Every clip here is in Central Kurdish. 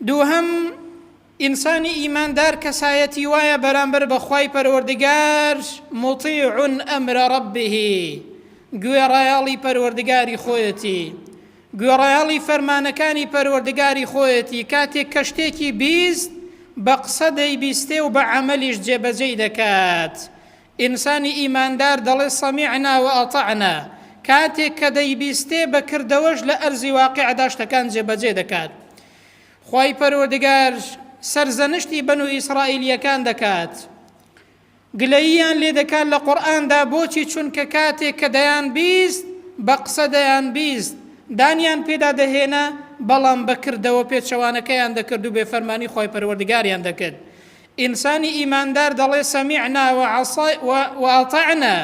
دووهەم، ئینسانی ئیماندار کەسایەتی وایە بەرامبەر بە خوای پەروەردگار مطیع امر ربه گوێڕایەڵی پەروەردگاری خۆیەتی گوێڕایەڵی فەرمانەکانی پەروەردگاری خۆیەتی کاتێک کە شتێکی بیست بە قسە دەیبیستێ و بە عملیش جێبەجێی دەکات ئینسانی ئیماندار دەڵێ سەمیعنا و ئەطعنا، کاتێک کە دەیبیستێ بە کردەوەش لە ئەرزی واقیعدا شتەکان جێبەجێ دەکات. خوای پەروەردگار سەرزەنشتی بەنو ئیسرائیلیەکان دەکات. گلەییان لێ دەکات لە قورئاندا بۆچی چونکە کاتێک کە دەیان بیست بە قسە دەیان بیست دانیان پێدا دەهێنا بەڵام بە کردەوە پێچەوانەکەیان دەکرد و بێفەرمانی خوای پەروەردگاریان دەکرد. ئینسانی ئیماندار دەڵێ سەمیعنا وئەتەعنا،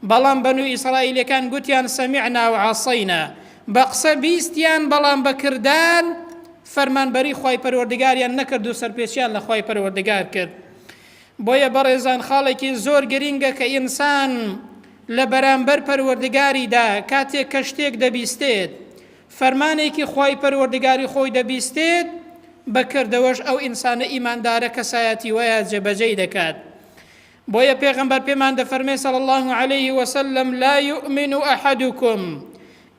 بەڵام بەنو ئیسرائیلەکان گوتیان سەمیعنا وعەسەینا، بە قسە بیستیان بەڵام بە کردار فەرمانبەری خوای پەروەردگاریان نەکرد و سەرپێچیان لە خوای پەروەردگار کرد. بۆیە بەڕێزان خاڵێکی زۆر گرینگە کە ئینسان لە بەرامبەر پەروەردگاریدا کاتێک کە شتێک دەبیستێت فەرمانێکی خوای پەروەردگاری خۆی دەبیستێت، بە کردەوەش ئەو ئینسانە ئیماندارە کەسایەتی وایە جێبەجێی دەکات. بۆیە پێغەمبەر پێمان دەفەرمێ صلی اللە علیه وسلم لا یؤمن احدکم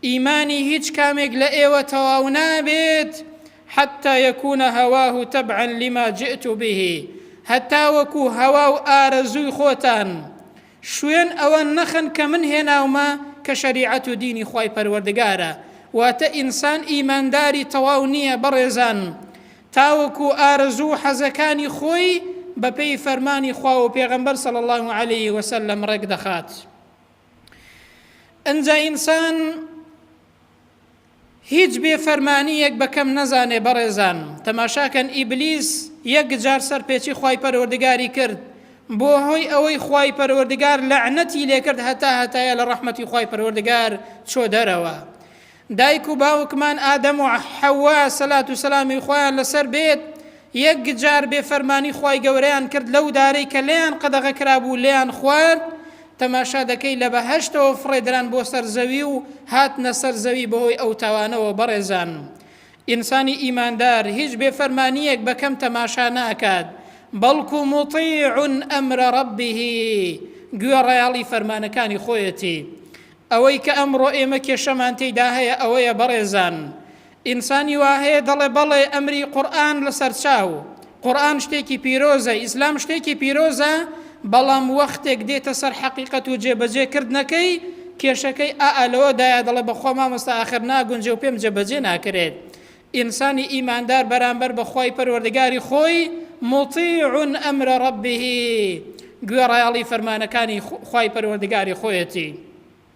ئیمانی هیچ کامێک لە ئێوە تەواو نابێت حتى يكون هواه تبعا لما جئت به هەتا وەکو هەوا و ئارەزووی خۆتان شوێن ئەوە نەخەن کە من هێناومە کە شەریعەت و دینی خوای پەروەردگارە واتە ئینسان ئیمانداری تەواو نیە بەڕێزان تاوەکو ئارەزوو و حەزەکانی خۆی بە پێی فەرمانی خوا و پێغەمبەر صلی اللە علیه وسلم ڕێک دەخات ئنجا ئینسان هیچ بێ فەرمانیەک بە کەم نەزانێ بەڕێزان تەماشا کەن ئیبلیس یەک جار سەر پێچی خوای پەروەردگاری کرد بۆ هۆی ئەوەی خوای پەروەردگار لەعنەتی لێکرد هەتا هەتایە لە ڕەحمەتی خوای پەروەردگار چۆ دەرەوە دایک و باوکمان ئادەم و حەوا سەلات و سەلامی خۆیان لەسەر بێت یەک جار بێ فەرمانی خوای گەورەیان کرد لەو دارەی کە لێیان قەدەغە کرابوو لێیان خوارد تەماشا دەکەی لە بەهەشتەوە فڕێدران بۆ سەر زەوی و هاتنە سەر زەوی بەهۆی ئەو تاوانەوە بەڕێزان ئینسانی ئیماندار هیچ بێ فەرمانیەک بە کەم تەماشا ناکات بەڵکو موطیعون ئەمر ربه گوێ ڕیاڵی فەرمانەکانی خۆیەتی ئەوەی کە ئەمڕۆ ئێمە کێشەمان تێدا هەیە ئەوەیە بەڕێزان ئینسانی وا هەیە دەڵێ بەڵێ ئەمری قورئان لەسەر چاو، قورئان شتێکی پیرۆزە، ئیسلام شتێکی پیرۆزە، بەڵام وەختێک دێتە سەر حەقیقەت و جێبەجێ کردنەکەی، کێشەکەی ئا ئا لەوەدایە دەڵێ بەخوا مامۆستا ئاخر ناگونجێ و پێم جێبەجێ ناکرێت. ئینسانی ئیماندار بەرامبەر بە خوای پەروەردگاری خۆی موطیع امر ربه گوێڕایەڵی فەرمانەکانی خوای پەروەردگاری خۆیەتی.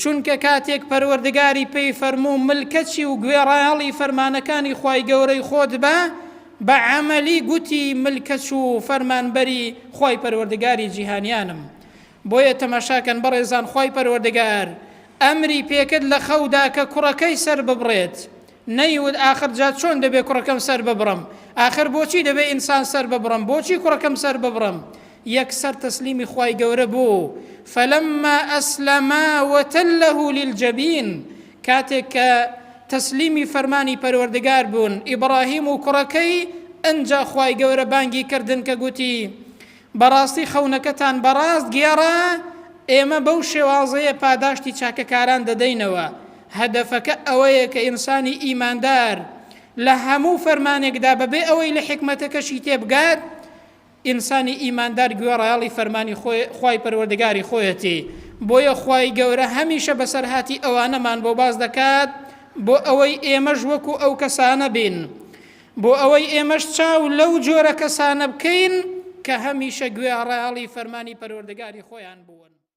چونکە کاتێک پەروەردگاری پێی فەرموو ملکەچی و گوێڕایەڵی فەرمانەکانی خوای گەورەی خۆت بە، بە عەمەلی گوتی ملکەچ و فەرمانبەری خوای پەروەردگاری جیهانیانم. بۆیە تەماشاکەن بەڕێزان خوای پەروەردگار ئەمری پێکرد لە خەودا کە کوڕەکەی سەرببڕێت، نەیوت ئاخر جا چۆن دەبێ کوڕەکەم سەر ببڕم؟ ئاخر بۆچی دەبێ ئینسان سەر ببڕم؟ بۆچی کوڕەکەم سەر ببڕم؟ یەکسەر تەسلیمی خوای گەورە بوو، فلما اسلما وتله للجبین، کاتێک کە تەسلیمی فەرمانی پەروەردگار بوون، ئیبڕاهیم و کوڕەکەی، ئنجا خوای گەورە بانگی کردن کە گوتی، بەڕاستی خەونەکەتان بەڕاست گێڕا، ئێمە بەو شێوازەیە پاداشتی چاکەکاران دەدەینەوە، هەدەفەکە ئەوەیە کە ئینسانی ئیماندار لە هەموو فەرمانێکدا بەبێ ئەوەی لە حیکمەتەکەشی تێبگات، ئینسانی ئیماندار گوێڕایەڵی فەرمانی خوای پەروەردگاری خۆیەتی، بۆیە خوای گەورە هەمیشە بەسەرهاتی ئەوانەمان بۆ باس دەکات بۆ ئەوەی ئێمەش وەکو ئەو کەسانە بین. بۆ ئەوەی ئێمەش چاو لەو جۆرە کەسانە بکەین کە هەمیشە گوێڕایەڵی فەرمانی پەروەردگاری خۆیان بوون.